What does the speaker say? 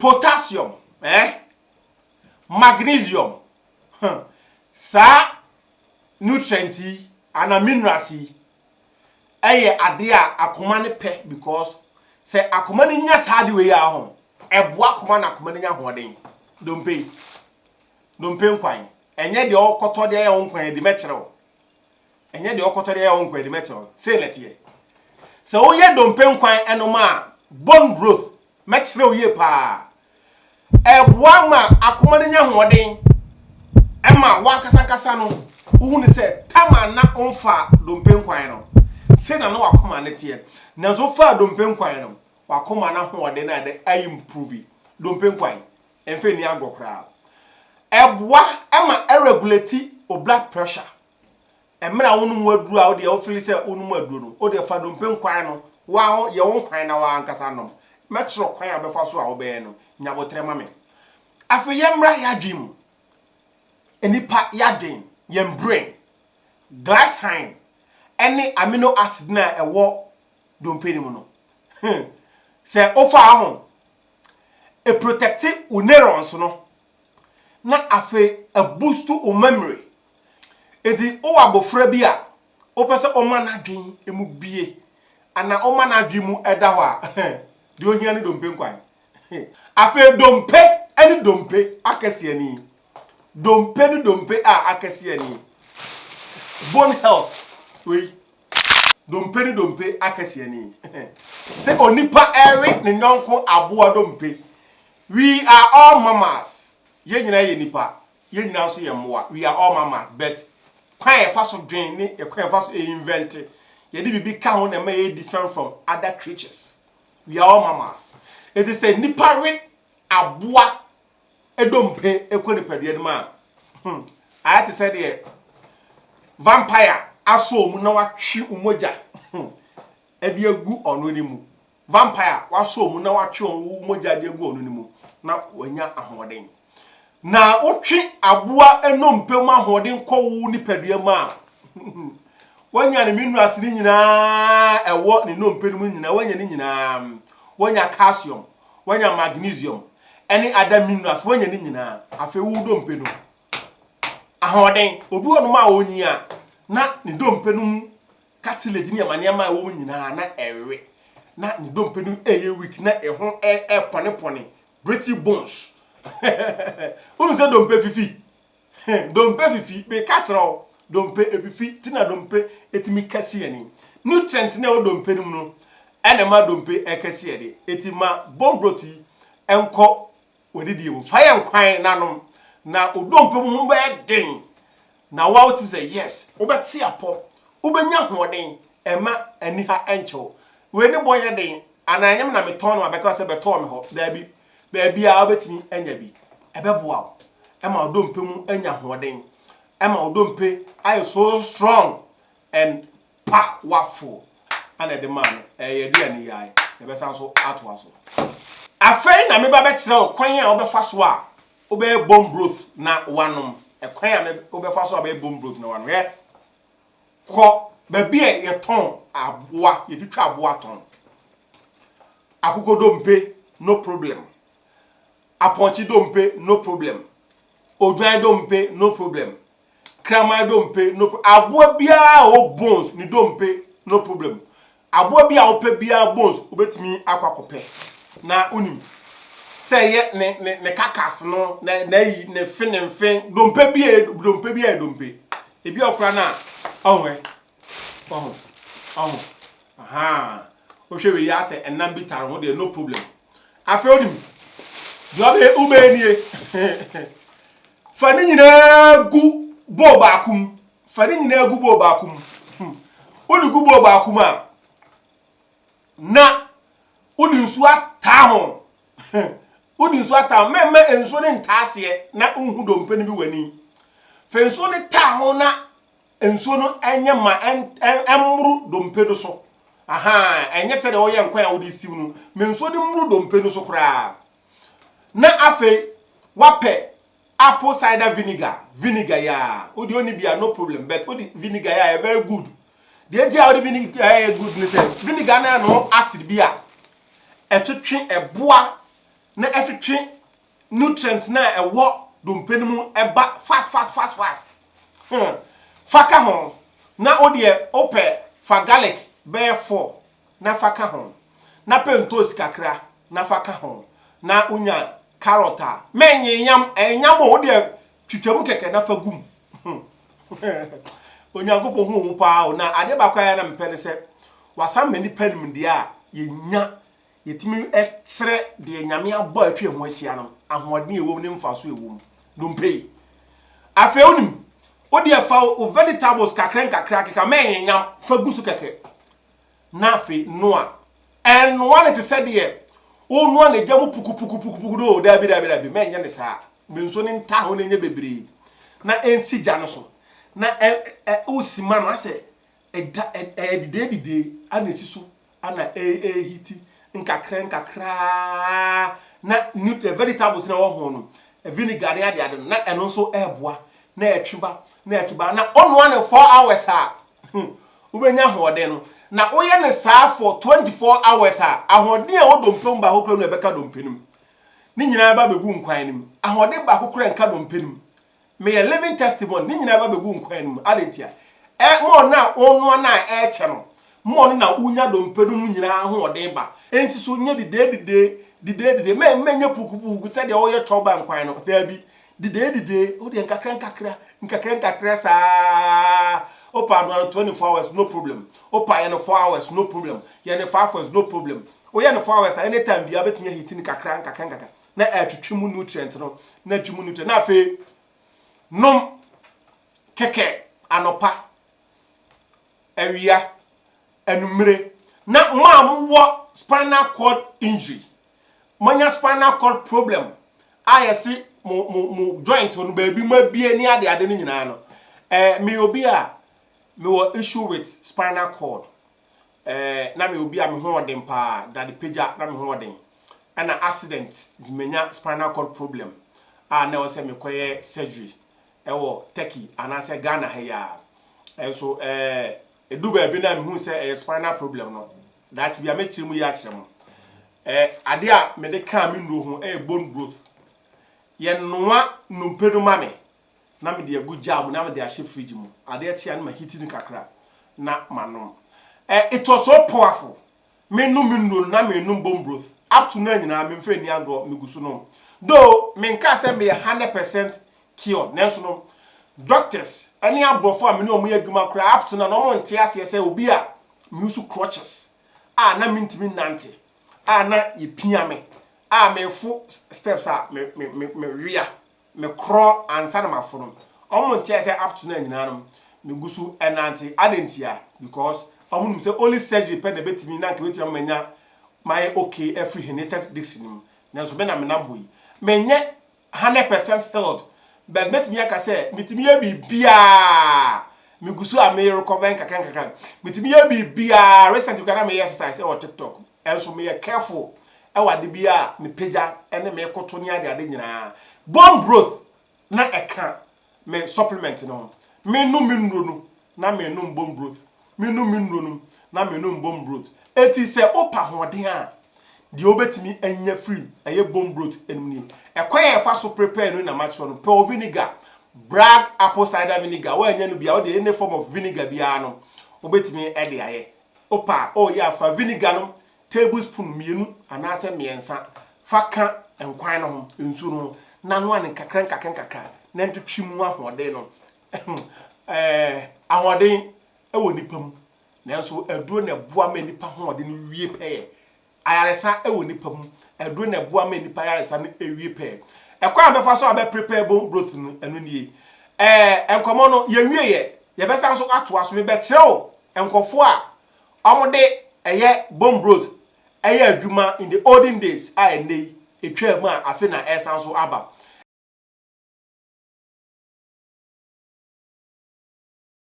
Potassium eh Magnesium huh Saa nutrient yi anaa minerals yi yɛ adeɛ a akoma no pɛ because sɛ akoma no nya saa adeɛ wei a ho ɛboa akoma na akoma no nya ahoɔden Dompe yi dompe nkwan ɛnyɛ deɛ ɔkɔtɔ deɛ yɛ wo nkwan adi mɛkyerɛ wo Ɛnyɛ deɛ ɔkɔtɔ deɛ ɛyɛ ɔnkɔ ɛde mɛkyerɛ wo sei na ɛteɛ sɛ woyɛ dompe nkwan ɛnom a bone growth mɛkyerɛ wo yie paa ɛboa ma akoma no nya hoɔden ɛma wankasa nkasa no wohu ne sɛ tam a na ɔmfa dompe nkwan no sei na na wakoma no teɛ nanso wofaa dompe nkwan no wakoma no ahoɔden no ɛde ayi mprovi dompe nkwan Ɛmfa nni agorɔ koraa. Ɛboa ma ɛregulate wo blood pressure. Mmerɛ a wonom w'aduro a wodeɛ wo fili sɛ wonom aduro no, wodeɛ fa dompe nkwan no, woa wo yɛ wo nkwan na woa ankasa nom. Mɛkyerɛ wo kwan a wobɛfa so a wobɛyɛ no. Nya aboterɛ ma me. Afei yɛmmra y'adwen mu. Nnipa y'adwen, yɛn brain, glycine ɛne amino acid no a ɛwɔ dompe no mu no, hmm, sɛ wofaa ho e protect wo neurons no na afei e boost wo memory. Enti wowɔ abofra bi a wopɛ sɛ woma n'adwen mu bue anaa woma n'adwen mu da hɔ a, deɛ ohia ne dompe nkwan. Afei dompe ne dompe akɛseɛ ni, dompe ne dompe a akɛseɛ ni, bone health wei Dompe ne dompe akɛseɛ ni. Sɛ onipa ɛre ne nyɔnko aboa dompe. We are all mammals. Yɛn nyinaa yɛ nipa. Yɛn nyinaa nso yɛ mmoa. We are all mammals but kwan a yɛfa so dwen ne yɛ kwan a yɛfa so invente. Yɛde biribi ka ho na ɛma yɛyɛ different from other creatures. We are all mammals. Ɛti sɛ nipa we aboa dompe kɔ nipadua no mu a, hmm, ayɛ te sɛ deɛ vampire asɔ wɔn na watwe wɔn mogya hmm, de agu ɔno no mu. Vampire wasɔ wɔn na watwe wɔn mogya de agu ɔno no mu na wanya ahoɔden. Na wotwe aboa nnompe mu ahoɔden kɔ wo nipadua mu a, wanya ne minerals no nyinaa ɛwɔ ne nnompe no mu nyinaa, wanya ne nyinaa, wanya calcium. Woanya magnesium ne other minerals, woanya ne nyinaa. Afei wo dompe no mu ahoɔden. Obi wɔ nom a onyin a, na ne dompe no mu cartilage ne nneɛma-nneɛma a ɛwɔ mu nyinaa na ɛrewe. Na ne dompe no reyɛ weak, na ɛho repɔnepɔne, brittle bones. Wonim sɛ dompe fifi? He, dompe fifi, meka kyerɛ wo, dompe efifi, ti na dompe etumi kɛse yɛ ni. Nutrient na ɛwɔ dompe no mu no ɛna ɛma dompe ɛkɛse yɛ de. Eti ma bone broth yi ɛnkɔ w'adidie mu. Fa yɛ nkwan na nom na wo dompe mu ho bɛyɛ den na woa wotumi sɛ yes, wobɛte apɔ, wobɛnya ahoɔden, ɛma aniha ɛnkyɛ wo. Wei ne bɔ nyɛ den, anaa ɛnyɛ me na metɔn no ma bɛka sɛ bɛtɔɔ me hɔ, daabi. baabiara wobɛtumi anya bi. Ɛbɛboa wo ma wo dompe mu anya ahoɔden, ɛma wo dompe ayɛ so strong and powerful. Ana ɛde maa no ɛyɛ aduane yi ae, yɛbɛsan so atoa so. Afei na meba bɛkyerɛ wo kwan a wobɛfa so a wobɛyɛ bone broth na woanom. Ɛkwan a wobɛfa so a wobɛyɛ bone broth na woanom. Hwɛ. Kɔ baabi a yɛtɔn aboa, yɛde twa aboa tɔn. Akokodompe, no problem. Apɔnkye dompe, no problem. Odwan dompe, no problem. Kraman dompe, no problem. Aboa biara a ɔwɔ bones, ne dompe, no problem. Aboa bi a wopɛ biara bones wobɛtumi akɔ akɔpɛ na wonim sɛ ɛyɛ ne ne ne kakas no na n'ayi ne fe ne nfe dompe bi yɛ dompe bi yɛ dompe ebi ɔkora no a ɔho ɛ ɔho ɔho ahaa wohwɛ wei asɛ ɛnam bi tare ho deɛ no problem afei wonim deɛ ɔbɛyɛ wobɛyɛ nie fa ne nyinaa gu bowl baako mu Fa ne nyinaa gu bowl baako mu. Hmm. Wode gu bowl baako mu a, na wode nsuo ataa ho. Wode nsuo ataa ho. Mɛmma nsuo no ntaa aseɛ na nhu dompe no bi w'ani. Fa nsuo no taa ho na nsuo no ɛnyɛ ma ɛmmoro dompe no so. Aha, ɛnyɛ sɛ deɛ wɔyɛ nkwan a wode stew no. Ma nsuo no mmoro dompe no so koraa. Na afei, wapɛ Apple cider vinegar, vinegar yi aa, wo deɛ ɔnni bi a no problem but wo de vinegar yi ayɛ very good. Deɛ nti a wo de vinegar yi ayɛ good ne sɛ vinegar no ɛno acid bi a ɛtwetwe ɛboa na ɛtwetwe nutrient no a ɛwɔ dompe no mu ɛba fast fast fast fast. Hmm, fa ka ho na wo deɛ wopɛ fa garlic bɛyɛ four. na fa ka ho, na pɛ ntoosi kakra na fa ka ho, na wonya carrot a, mennye yam, ɛyɛ yam o, wo deɛ twitwa mu kɛkɛ na fa gu mu. Onyankopɔn hu wo paa o, na adeɛ baako a na mepɛ ne sɛ wasan ma nnipa nimdeɛ a yɛnya, yɛtumi kyerɛ deɛ Nyame abɔ a atwa yɛn ho ahyia no, ahoɔden a ɛwɔ mu ne mfaso a ɛwɔ mu. Dompe yi, afei wonim, wo deɛ fa wo vegetables kakra nkakra keka, mennye yam, fa gu so kɛkɛ. Na afei noa. Ɛnnoa no te sɛ deɛ wonoa no gya mu pukupukupukupuku no o, daabi, daabi, daabi, mɛnyɛ no saa. Ma nsuo no ntaa hɔ na ɛnyɛ bebree, na ɛnsi gya no so, na ɛ, ɛ, wosi ma no asɛ ɛda, ɛ, ɛyɛ dedeededee a na ɛsi so a na ɛ, ɛrehiti nkakra nkakra ara, na ne, ɛ, vegetables na ɛwɔ ho no, vinegar ne adeade no, na ɛno nso ɛreboa, na ɛtwe ba, na ɛtwe ba, na wonoa no four hours a, hmm, wobɛnya ahoɔden no, na woyɛ no saa for 24 hours a, ahoɔden a ɛwɔ dompe mu baako kora no ɛbɛka dompe no mu. Ne nyinaa ɛba bɛgu nkwan no mu. Ahoɔden baako kora nka dompe no mu. Meyɛ living testimony, ne nyinaa ɛba bɛgu nkwan no mu. Adɛn ntia? Ɛ mo ɔno a ɔnoa no a ɛrekyɛ no, mo ɔno na wonya dompe no mu nyinaa ahoɔden ba. Ɛnsi so nyɛ didee didee, didee didee, mɛ mɛnyɛ pukupuku sɛdeɛ wɔyɛ tɔba nkwan no, daabi. Dedee dedee, wo deɛ nkakra nkakra, nkakra nkakra saa, wo paanoa no twenty four hours no problem, wo pa yɛ no four hours no problem, yɛ no five hours no problem, wo yɛ no four hours a any time biara wobɛtumi ahiti no kakra nkakra nkakra na atwitwi mu nutrient no na atwi mu nutrient na afei nom kɛkɛ anɔpa, awia, anumere na mo a mowɔ spinal cord injury. Moanya spinal cord problem a yɛse mo mo mo joint hɔ no baabi mu abue ne ade ade no nyinaa no eh, meyɛ obi a mewɔ issue with spinal cord eh, na meyɛ obi a me ho ɔden paa dade pagya na me ho ɔden ɛna accident menya spinal cord problem a na ɛwɔ sɛ mekɔyɛ surgery ɛwɔ Turkey anaasɛ Ghana ha yi a ɛnso eh, ɛdu baabi no a mehu sɛ ɛyɛ spinal problem no Daakye bi a mɛkyerɛ mu yie akyerɛ mo. Ɛɛ adeɛ a mede kaa me nnuro ho yɛ bone growth. Yɛnoa nnompe no ma me na mede agu jar mu na mede ahyɛ fridge mu. Adeɛ kye a na maheati no kakra na manom. Ɛɛ it was so powerful. Menom me nnuro no na menom bone broth. Up to now nyinaa memfa nni agorɔ, megu so nom. Though menkaa sɛ meyɛ hundred percent cured nanso no doctors ne aborɔfo a me ne wɔn yɛ adwuma koraa up to now no wɔnte aseɛ sɛ obi a me use crutches a na me ntumi nnante a na yɛ pia me a me fo steps a me me me me wea me korɔ ansa na ma fo no wɔn nte aseɛ up to now nyinaa no me gu so ɛnante adɛn ntia because wɔn nim sɛ only surgery pɛ na ebetumi na nka ebetumi ama nya mayɛ okay afiri herniated disc no mu nanso me na me nam hɔ yi me nyɛ Hundred percent healed but mɛtumi aka sɛ metumi yɛ biribiara megu so a me recover nkakra nkakra metumi yɛ biribiara recently koraa na meyɛ exercise ɛwɔ tiktok ɛnso meyɛ careful ɛwɔ ade bi a mepagya ɛne mekoto ne ade ade nyinaa bone growth na ɛka me supplement no ho. Menom me nnuro no na menom bone broth, menom me nnuro no na menom bone broth. Enti sɛ wopɛ ahoɔden a, deɛ wobɛtumi anya firi ɛyɛ bone broth nom nie. Ɛkwan a yɛfa so prepare no na makyerɛ no. Pearl vinegar, bragg apple cider vinegar, woannya no bi a, wode any form of vinegar biara no wobɛtumi de ayɛ. Wopɛ a, woyɛ a fa vinegar no Tablespoon mmienu anaasɛ mmiɛnsa fa ka nkwan no ho nsuo no ho na noa no nkakrankakra na ntwetwe mu ahoɔden no. Ɛɛ ahoɔden wɔ nipa mu nanso aduro na ɛboa ma nipa hoɔden no wie pɛɛ. Ayaresa wɔ nipa mu, aduro na ɛboa ma nipa ayaresa no wie pɛɛ. Ɛkwan a bɛfa so a bɛ prepare bone broth no ɛno nie. Ɛɛ nkɔmɔ no yɛnwieɛ, yɛbɛsan so atoa so, mebɛkyerɛ wo nkɔfoɔ a wɔde ɛyɛ bone broth yɛ adwuma in the olden days a ɛnnɛ yi ɛtwaa mu a afe na ɛresan so aba.